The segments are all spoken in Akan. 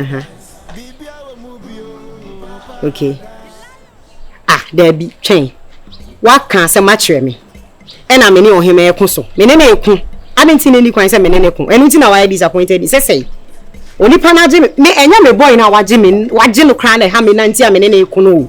aha okay ah daabi twɛn waka asɛm akyerɛ me ɛna me ne ɔhema ɛko so me ne ne ɛko ade nti ne ni kwan sɛ me ne ne ko ɛno nti na wayɛ disappointed sɛ sɛe onipa no agye me ɛnyɛ me bɔe no a wagye me wagye no koraa na ɛha me na nti a me ne ne ɛko no o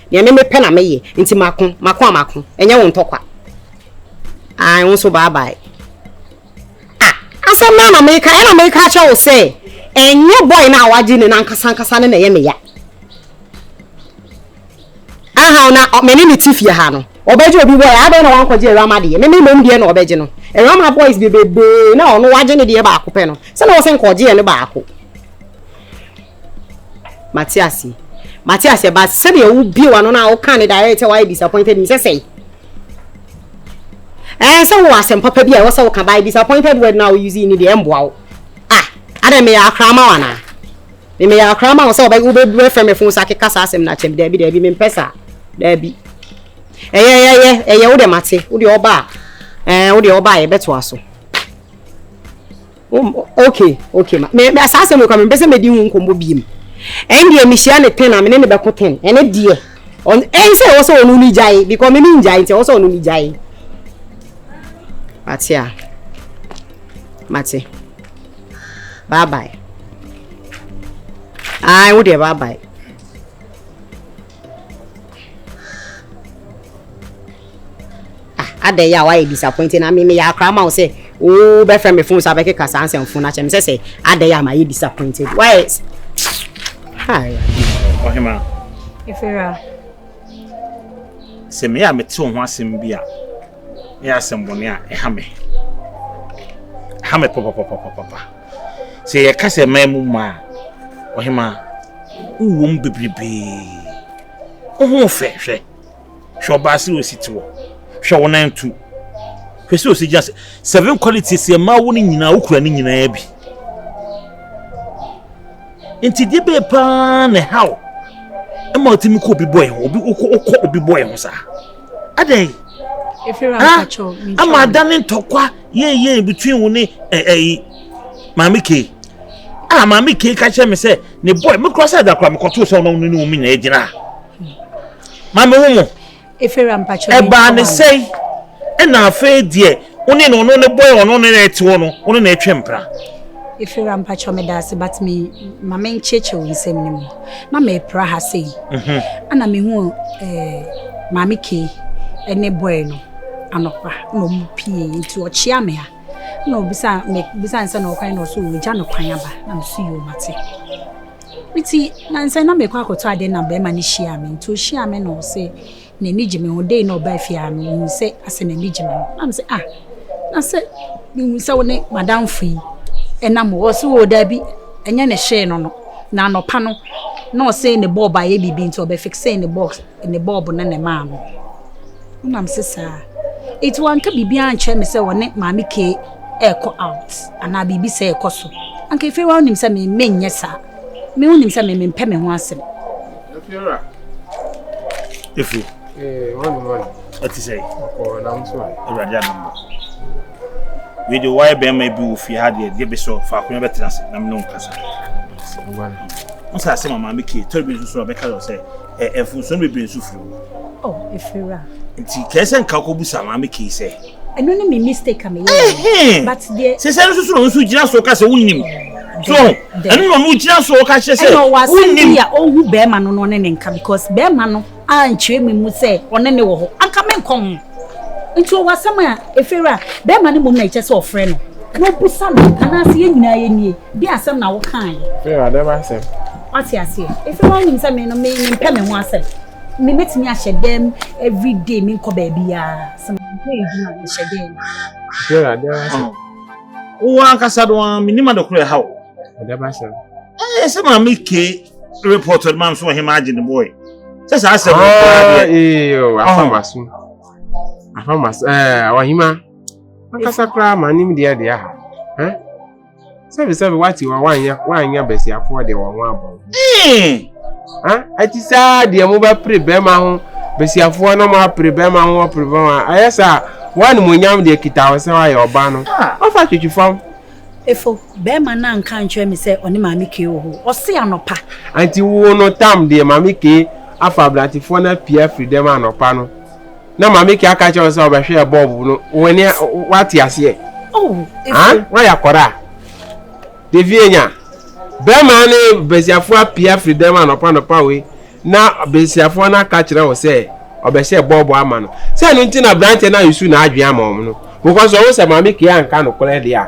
Nea me mepɛ na meyɛ nti mako mako a mako ɛnyɛ wo ntɔkwa ae wo nso bye bye ah asɛm na na meka ɛna meka akyɛ wo sɛ ɛnyɛ boy na wagye ne nankasa ankasa ne na ɛyɛ me ya aha na me ne ne ti fie ha no ɔbɛgye obi boy adɛn na wankɔgye awurama deɛ me me mom deɛ na ɔbɛgye no awurama boys bebebee na ɔno wagye ne deɛ baako pɛ no sɛ na wɔ sɛ nkɔgye yɛ ne baako mate aseɛ mate aseɛ but sɛdeɛ wobie w'ano no a woka ne direct sɛ woayɛ disappointed me sɛ sɛe ɛɛ sɛ wowɔ asɛm papa bi a ɛwɔ sɛ woka by disappointed word no a wouse ne deɛ ɛmboa wo ah adɛn meyɛ akora ma wo anaa meyɛ akora ma wo sɛ wobɛfrɛ me fo sɛ akeka saa asɛm no akyɛm daabi daabi mempɛ saa daabi ɛyɛ ɛyɛ ɛyɛ wo deɛ mate wo deɛ ɔba a ɛɛ wo deɛ ɔba a yɛbɛtoa so okay okay ma me me saa asɛm kɔ me mpɛsɛ mɛdi ho nkɔmmɔ biem ɛn deɛ mehyia ne ten a me ne ne bɛko ten ɛne deɛ ɔn ɛn sɛ ɛwɔ sɛ ɔno ne gyae because me me ngyae nti ɛwɔ sɛ ɔno ne gyae mate a mate bye bye ai wo deɛ bye bye Ah, adɛn yɛ a woayɛ disappointed na me meyɛ akora ma wo sɛ wobɛfrɛ me phone so abɛkeka saa nsɛm fo no akyɛ me sɛ sɛ adɛn yɛ a mayɛ disappointed woayɛ ɔhema ɛfira sɛ meyɛ a mete wo ho asɛm bi a ɛyɛ asɛm bɔne a ɛha me ha me papapapapapa Sɛ yɛka sɛ man mu mma a, ɔhemaa, wowom bebrebee. Wo ho fɛ hwɛ. Hwɛ ɔbaa sɛ osi te wɔ. Hwɛ wo nan tu. Hwɛ sɛ osi gyina sɛ. Seven qualities yɛ mmaa wo no nyinaa wokura ne nyinaa bi. Nti deɛ bɛyɛ paa na ɛhaw ɛma ɔtumi kɔ obi bɔe ho obi wokɔ obi bɔe ho saa. adɛn ama ada ne ntɔkwa yɛnyɛn between wo ne ɛyi maame kee a maame kee ka kyerɛ me sɛ ne boy me kora sɛ adakora mekɔtoo sɛ ɔno ne ne wo me nyinaa gyina maame wo mu ɛbaa ne sɛn ɛna afei deɛ Wo ne no no ne boy ɔno ne na ɛte hɔ no wo ne na ɛtwe mpra. Efira mpakyɛ me daase but me ma me nkyekyew nsɛm no mu na me pra ha sei mhm. ana me hu eh, maame kei ne boy no anɔpa na ɔmo pie nti ɔkyea me ha na ɔbisa me bisa nsɛ na ɔkwan na ɔso ɔgya no kwan aba na me so yɛ ɔmate nti na nsɛ na mekɔ akɔtɔ adeɛ na bɛrima no hyia me nti ɔhyia me na ɔse N'ani gye me ho. Dei na ɔbaa fie a no, ohun sɛ asɛ n'ani gye me ho. Na me se, ah, na sɛ mehun sɛ wo ne madamfo yi ɛnam o. Ɔse, oo daabi, ɛnyɛ ne hyee no no. Na anɔpa no, na ɔse ne bɔɔb ayɛ biribi nti ɔbɛ fiksee ne box, ne bɔɔb no na ɛmaa no. Na me se, saa. Enti wanka biribi ankyerɛ me sɛ ɔne maame Kay ɛɛkɔ out anaa biribi sɛɛ ɛɛkɔ so. Anka afei woanim sɛ me, menyɛ saa. Me wonim sɛ me mempɛ me ho asɛm. Efi. Ee, wɔne wɔne. Ɛte sɛ. Ɔkɔɔ nam so. Awurade anambo. Wei de wɔayɛ bɛrima bi wɔ fie ha deɛ deɛ bɛsɔ faako na bɛtena ase na mene wo nkasa. Wo sɛ asɛm a maame kee tɔre bi nso so a bɛka yɛ sɛ ɛ mfomso no bebree nso firi mu. Oh, ɛfiri wura. Nti kɛɛ sɛ nka kɔbu sa maame kei sɛ. Ɛno ne me mistake a meyɛ. Ɛhɛn. But deɛ. Sɛ sɛ no nso no nso gyina so ka sɛ wonim. So ɛno na ɔno gyina so ka kyerɛ sɛ. Ɛna ɔwɔ asɛm bi a ɔhu bɛrima no na ɔne ne nka because bɛrima no ankyerɛ me mu sɛ ɔne ne wɔ hɔ anka me nkɔ ho. Nti ɔwɔ asɛm a ɛfiri wura bɛrima no mmom na ɛkyɛ sɛ ɔfrɛ no na ɔbusa no anaasɛ yɛn nyinaa yɛnie. Bi asɛm na wo kan yɛ. Ee ade ba asɛm. Wate aseɛ. Efi wɔn nim sɛ me no me me mpɛ me ho asɛm. Me metumi ahyɛ dɛm every day me nkɔ baabi a. Sɛ me nkɔ edwuma me hyɛ dɛm. Ee ade ba asɛm. Wo ankasa do an me nim ade koro ɛha o. Ade ba asɛm. Ee sɛ maa me ke report ɔde maa me so ɔhema agye ne boy. Sɛ saa asɛm. Ee o afa ma so. Afa ma so ɛɛ ɔhema. Ankasa koraa maa nim deɛ deɛ ha. sɛbi sɛbi wati wa wanya wanya basiafoɔ deɛ wɔn ho abɔ ho hmm. ɛti saa deɛ mo bɛ pere bɛrima ho basiafoɔ na mo apere bɛrima ho apere bɛrima ho ayɛ saa wɔn a mo nyam deɛ kita wɔ sɛ wɔayɛ ɔba no ah. ɔfa twitwi fam. efo bɛrima naa nka nkyɛn mi sɛ ɔne maame kee wɔ hɔ ɔsi anɔpa. anti wo no tam deɛ maame kee afa aberantefoɔ na pia firi dɛm anɔpa no. na maame kɛ aka kyerɛ wo sɛ ɔbɛhwɛ bɔɔbo no w'ani wate aseɛ woayɛ akɔda a devie nya bɛrima ne basiafoɔ apia firi dɛm anɔpa nɔpa wei na basiafoɔ no aka kyerɛ wo sɛ ɔbɛhyɛ bɔɔbo ama no sɛ ɛno nti na aberanteɛ no ayi su na adwene ama wɔn no because ɔwo sɛ maame kɛ anka nokorɛ deɛ a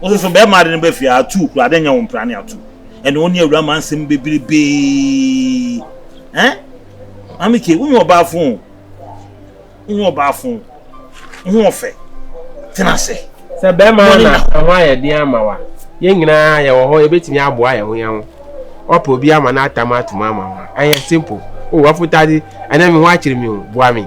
Wo soso bɛɛma ade no bɛ fie a atuu koraa dɛ nyɛ wo mpra ne atuu ɛne wo ne awura ma nsɛm bebrebee eh Maame Kay wonyɛ ɔbaa fon o wonyɛ ɔbaa fon wo ho ɔfɛ tena ase Sɛ bɛɛma na ɛho ayɛ den ama wo a yɛn nyinaa yɛwɔ hɔ yɛbɛtumi aboa yɛn ho yɛn ho Woapɛ obi ama no atam atom ama wo a ɛyɛ simple Oh w'afotade ɛnɛ me ho akyere me o boa me.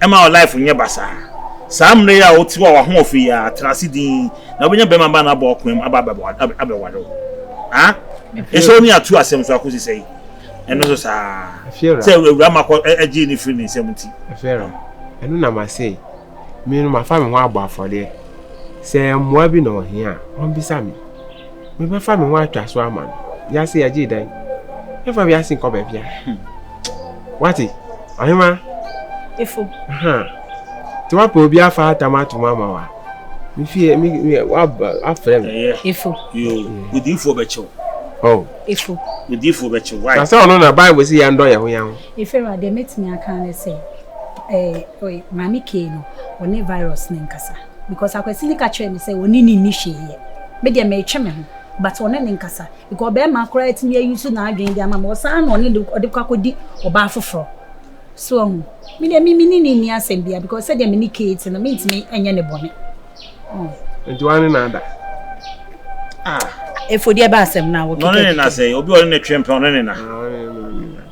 Ɛmma wo life nyɛ basaa. Saa mmerɛ yi a wo te hɔ a w'ahoɔfɛ yi ara, tena ase dinn na wobɛnya barima ba no abɔ wo koom aba abɛware wo. Ah? Ɛsɛ wo ne atuu asɛm so akɔsi sɛi? Ɛno nso saa ara, sɛ awuraa ma kɔ gyee no firii ne nsam nti. Ɛfeara, ɛno na mase, me no mafa me ho abɔ afɔdeɛ. Sɛ mmoa bi na ɔhia a, ɔmbisa me. Mebɛfa me ho atwa so ama no. Wiase yɛgye dan. Mɛfa wiase nkɔ baabi a. Wate? Ahema. Efo. Ha. Te wapɛ obi afa atam atom ama wa. Me fie me me waba afrɛ me. Ɛyɛ. Efo. Yo. Odiifo bɛkyɛw. Oh. Efo. Odiifo bɛkyɛw. Why? Sasa ɔno na Bible si yɛn dɔ yɛn ho yɛn ho. Efo ra de metumi aka ne sɛ eh oi maame kee no ɔne virus ne nkasa. Because Akwasini ka kyerɛɛ me sɛ ɔne no nni hwee yɛ. Me deɛ meretwe me ho but ɔne no nkasa because ɔbarima koraa tumi a use n'adwene de ama me ɔsan na ɔne no ɔde kɔ akɔdi ɔbaa foforɔ. So wahu? Me deɛ me me ne no nni asɛm biara because sɛdeɛ me ne Kay te no mentumi nyɛ ne bɔne. Oh. Nti wɔn ne no ada. Ah. Efodi ɛbɛ asɛm na wɔkeka. Ɔne ne na sɛ obi ɔne ne twe mpɛ ɔne ne na. Ah,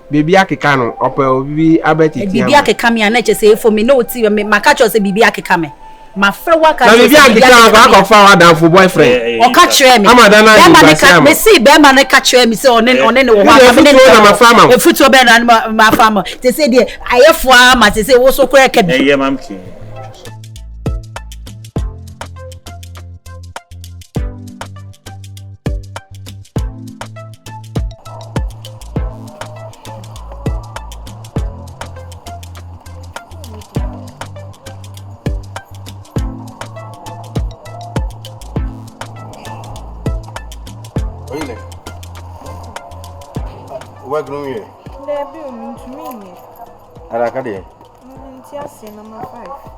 Biribi akeka no, ɔpɛ obi abɛtetea mu. Biribi akeka me a, na ɛkyerɛ sɛ efom me, na oti me, maka akyerɛ wo sɛ biribi akeka me. Mafrɛ wo aka akyerɛ wo sɛ biribi akeka me. Na biribi ankeka wo a, akɔfa w'adamfo boyfriend. Ɔka kyerɛɛ me. Ama da no ayɛ nkuraase ama wo. Mese barima no ka kyerɛɛ me sɛ ɔne no wɔ hɔ a, anka me ne no wɔ hɔ. Efutuo bɛn na mafa ama wo? Sesei deɛ ayɛ fo ara ma sesei wo so koraa ɛka bi. wobɛdoro wie daabi o mentumi nyɛ adaka deɛ nti aseɛ nɔma 5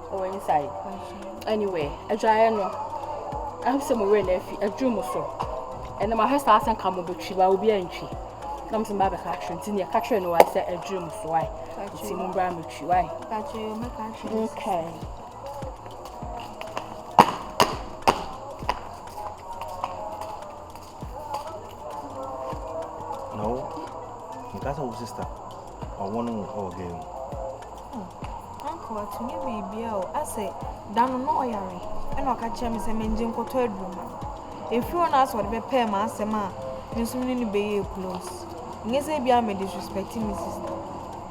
Wɔ inside anywhere adwaeɛ no ɛho sɛ mo werɛ na afi aduru mo so ɛnna mo ahwɛ saa sɛ nka mo bɛtwi ba obi antwi na mo sɛ mo ba bɛka akyerɛ nti nea ɛka kyerɛ no wae sɛ aduru mo so wae nti mo mbra mo twi wae. Okay. Na wo nka sɛ wo sista ɔwɔ no wo wɔ gɛɛ mu. Hmm. Uncle atumi biribia o asɛ da no na ɔyare ɛna ɔka kyerɛ me sɛ mengye nkɔtɔ aduru ma no. Ɛfiri hɔ na asɛ ɔde bɛpɛɛ ma asɛm a me nso ne no bɛyɛ close. Nyɛ sɛ ebia me disrespect me sista.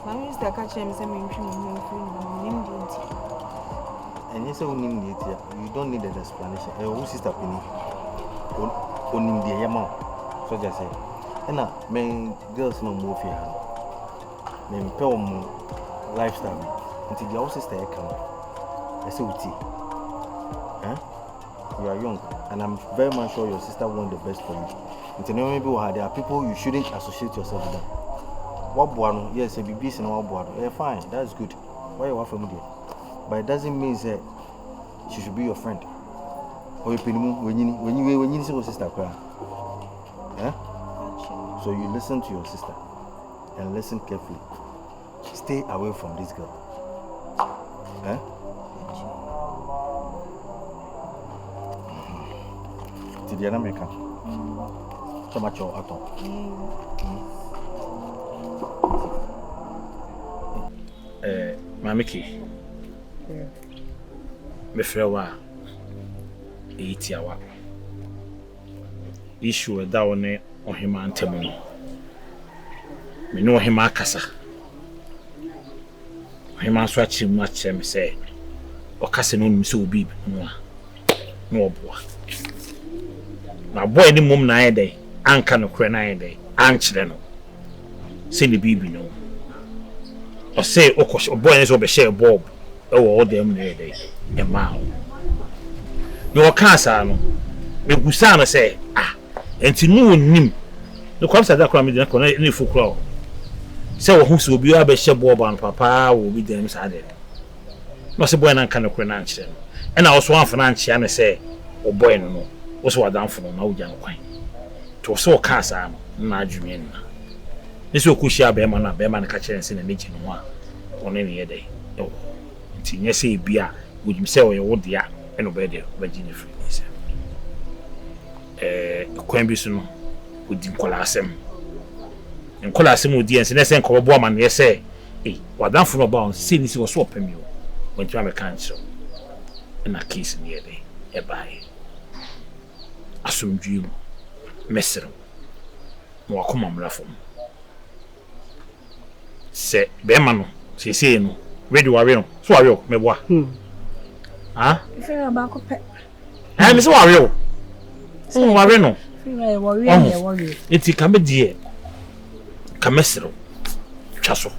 Na me sista ka kyerɛɛ me sɛ mentwe me ho mfiri ne ho, mennim deɛ nti. Ɛnyɛ sɛ wonim deɛ nti a, you don't need an explanation. Ɛyɛ wo sista panin, onim deɛ yɛ ma wo. So just say, ɛna me girls na ɔmo ofie ha no, mempɛ ɔmo lifestyle bi, nti deɛ wo sista yɛ ka no, ɛsɛ wotie. Eh? You are young and am very much sure your sister want the best for you nti nneɛma bi wɔ ha there are people you shouldn't associate yourself with them waboa no yes sɛ biribi si na waboa no ɛyɛ fine that's good wayɛ wafa mu deɛ but it doesn't mean sɛ she should be your friend ɔyɛ panimu wanyini wanyini wanyini sɛ wɔ sister koraa eh so you listen to your sister and listen carefully. Stay away from this girl. Eh? Ti deɛ na meka sɛ makyɛ wo atɔ. Maame Ki, mefrɛ wo a ɛyɛ tiawa. Issue a ɛda wo ne ɔhemaa ntam no, me ne ɔhemaa akasa. Ɔhemaa nso akyerɛ mu akyerɛ me sɛ ɔka sɛ na onim sɛ obi ho a na ɔboa. Mabɔ anim mmom na ayɛ dɛn anka nokorɛ no ayɛ dɛn ankyerɛ no. sɛ ne biribi no ɔse ɔkɔ ɔbɔɔ ne sɛ ɔbɛhyɛɛ bɔɔb ɛwɔ ɔdan mu na ɛyɛ dɛ ɛmaa wo na ɔkaa saa no mebusaa no sɛ ah ɛnti no ɔnim ne kwamsa da koraa mede no kɔ na ne fo koraa o sɛ wɔho sɛ obi abɛhyɛ bɔɔb ano papaa wɔ obi dan mu saa deɛ no na ɔse bɔɛ no anka nokorɛ no ankyerɛ no ɛna ɔso amfa no ankyea no sɛ ɔbɔɛ no no wo sɛ wadamfo no na wogya no kwan Nti ɔsɛ ɔkaa saa no na n'adwene anna. Ne sɛ ɔkɔ hyia bɛɛma no a bɛɛma no ka kyerɛ no sɛ na n'agya nim a ɔne no yɛ dɛn ɛwɔ hɔ. Nti nyɛ sɛ ebia ɔnim sɛ ɔyɛ wo dea ɛna ɔbɛyɛ dɛn ɔbɛgye no afiri ne nsam. Ɛɛ kwan bi so no ɔdi nkɔla asɛm. Ne nkɔla asɛm a ɔdi ɛnsɛ na ɛsɛ nka ɔbɛbɔ amaneɛ sɛ ei w'adamfo no ɔbaa hɔ sɛ ne si wɔ so ɔpɛ me o wantumi amɛka nkyerɛ wo ɛna case no yɛ dɛn ɛbaeɛ. asomdwoe mu, mɛserew, ma w'akoma mmra fam. Sɛ bɛrima no, seesei no, we de wawe no, so wawe o, mɛboa. Ha? Firi ɔbaako pɛ. Ɛn, me sɛ wawe o. Sɛ wawe no. Firi ɛwɔ wie na ɛwɔ wie. Eti ka me deɛ, ka mɛserew, twa so,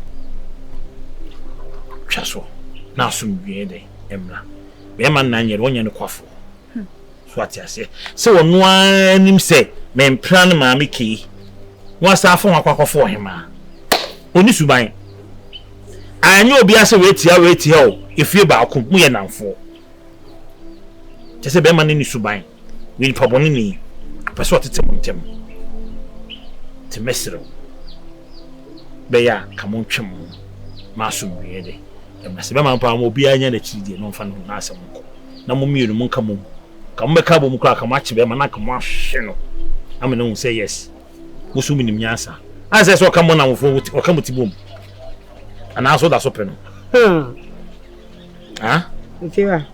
twa so, na asomdwoe dɛn mmra. Bɛrima nna nyɛ de, ɔnyɛ no kwafo. So wate aseɛ sɛ ɔno ara nim sɛ mempra ne maame kei na wasan afo ho akɔ akɔfo ɔhemaa? Ɔni suban. Anyɛ obiara sɛ wei tia wei tia o, efie baako mu yɛ nnamfoɔ. Kyɛ sɛ bɛrima no ni suban, wei nipa bɔne ni, ɔpɛ sɛ ɔtete mo ntɛm. Te mɛserɛ wo, bɛyɛ a ka mo ntwe mo ho ma asomdwoeɛ de. Na sɛ mɛma mpo a, ma obiara nnya n'akyiri deɛ, na ɔmfa ne ho n'asɛm nkɔ, na mo mmienu monka mom. Anka mobɛka abom koraa, anka moakye bɛrima, na anka moahwehwɛ no ama no ahu sɛ, yes, mo so monim nyansa. Ansɛ sɛ ɔka mo nnamfofoɔ ho, ɔka mo ti bom, anaasɛ ɔda so pɛ no. Huh? Huh? Mfewa.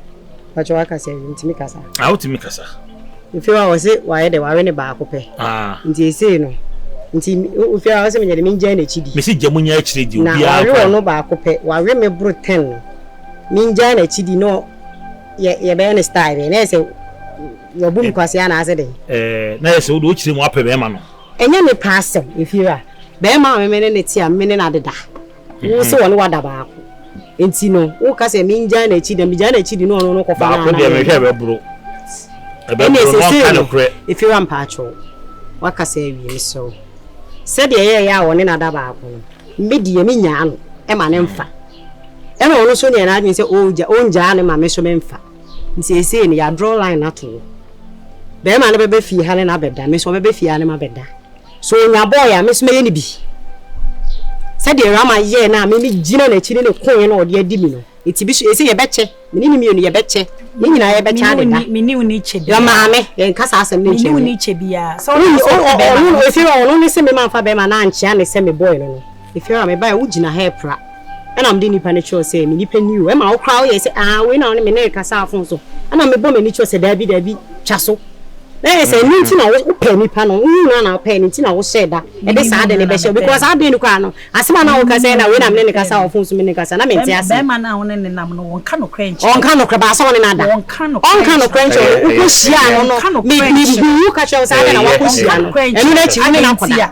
Pacho waka sɛ ntumi kasa. Ah wotumi kasa. Ofewa a ɔse wayɛ dɛ wawe ne baako pɛ. Ah. Nti esei no nti ofewa a ɔse menyɛ de mengyae n'akyi di. Mesi gya mu nya akyire di obiara kora. Na wawe ɔno baako pɛ wawe me boro ten no mengyae n'akyi di no yɛ yɛbɛyɛ ne style bɛn na yɛ sɛ wabu me kwasea anaasɛ dɛn. Ɛɛ na yɛ sɛ wode wokyerɛ mu apɛ bɛrima no. Ɛnyɛ me pɛ asɛm efewa bɛrima a me ne no te a me ne no adeda. Wo se wɔne wo ada baako nti no wo ka sɛ me ngyae n'akyi na me gyae n'akyi di na ɔno no kɔ fa na baako deɛ mehwɛ ɛbɛboro ɛbɛboro na ɔka no korɛ ɛfiri wa mpaatwɔ waka sɛ awie me sɛ wo sɛ deɛ ɛyɛ ɛyɛ a wɔne no ada baako no me deɛ me nyaa no ɛma ne mfa ɛna ɔno so neɛ n'adwene sɛ ɔgya ɔngyaa ne ma me so me mfa nti ɛsei no yɛ draw line ato wo bɛrima no bɛbɛ fie ha ne na bɛda me so ɔbɛbɛ fie ha ne ma bɛda So onya bɔɔe a, me nso mɛyɛ no bi? Sɛdeɛ Rama yɛɛ no a me megyina n'akyi ne no koeɛ na ɔde adi me no, enti bi so ese yɛbɛkyɛ, me ne no mmienu yɛbɛkyɛ, yɛn nyinaa yɛbɛkyɛ adeda. Me ne wo nni kyɛ biara. Maame, yɛnka saa asɛm no nkyerɛ me. Me ne wo nni kyɛ biara. Sɛ wode asɔ ɔfa bɛrima no. Ɔno, Efeora, ɔno ne se me mamfa bɛrima no ankyea ne sɛ mebɔe no no. Efeora, mebae a, wogyina ha repra. Ɛna mede nipa no kyerɛw sɛ, Me nipa ni o. Ɛma wo koraa woyɛ sɛ, Aah, wei na wo ne me ne rekasa a fon so. Ɛna mebɔ m'ani kyerɛw sɛ, Dabi, dabi, twa so. Na ɛyɛ sɛ ɛno nti na wopɛɛ nipa no, wohuu no a na wopɛɛ no nti na wohyɛɛ da de saa ade no bɛhyɛ wo because adwene no koraa no, asɛm a na woka sɛ, Ɛna wei na me ne no kasa wɔ fon so, me ne no kasa, na mente aseɛ. Barima no a wo ne no nam no, ɔnka nokorɛ nkyerɛ wo. Ɔnka nokorɛ, baasa wo ne no ada. Ɔnka nokorɛ nkyerɛ wo. Ɔnka nokorɛ nkyerɛ wo. Wokɔhyiaa no no, mebuu wo ka kyerɛɛ wo sɛ, Adɛn na woakɔhyia no? Ɛno no akyi wo ne no akɔda.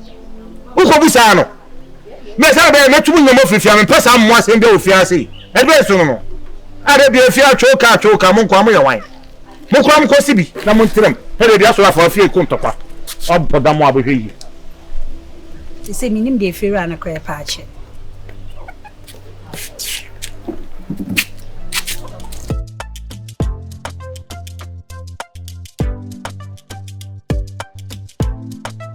Wokɔbu saa no, mɛ sɛ bɛyɛ mɛtu mu nyɔmɔ firi fie a mempɛ saa mmoa asɛm bia wɔ fie ase yi. Ɛdeɛ so no no, ada bia fie atwoo kaa twoo kaa mo nkoa mo yɛ wan? Mo kora mo kɔ si bi na mo ntiram ɛdeɛ bia so afa fie ko ntɔkwa ɔbɔ da mo a bɛhwɛ yie. Sese menim deɛ fie wura no korɛ paa kyɛ.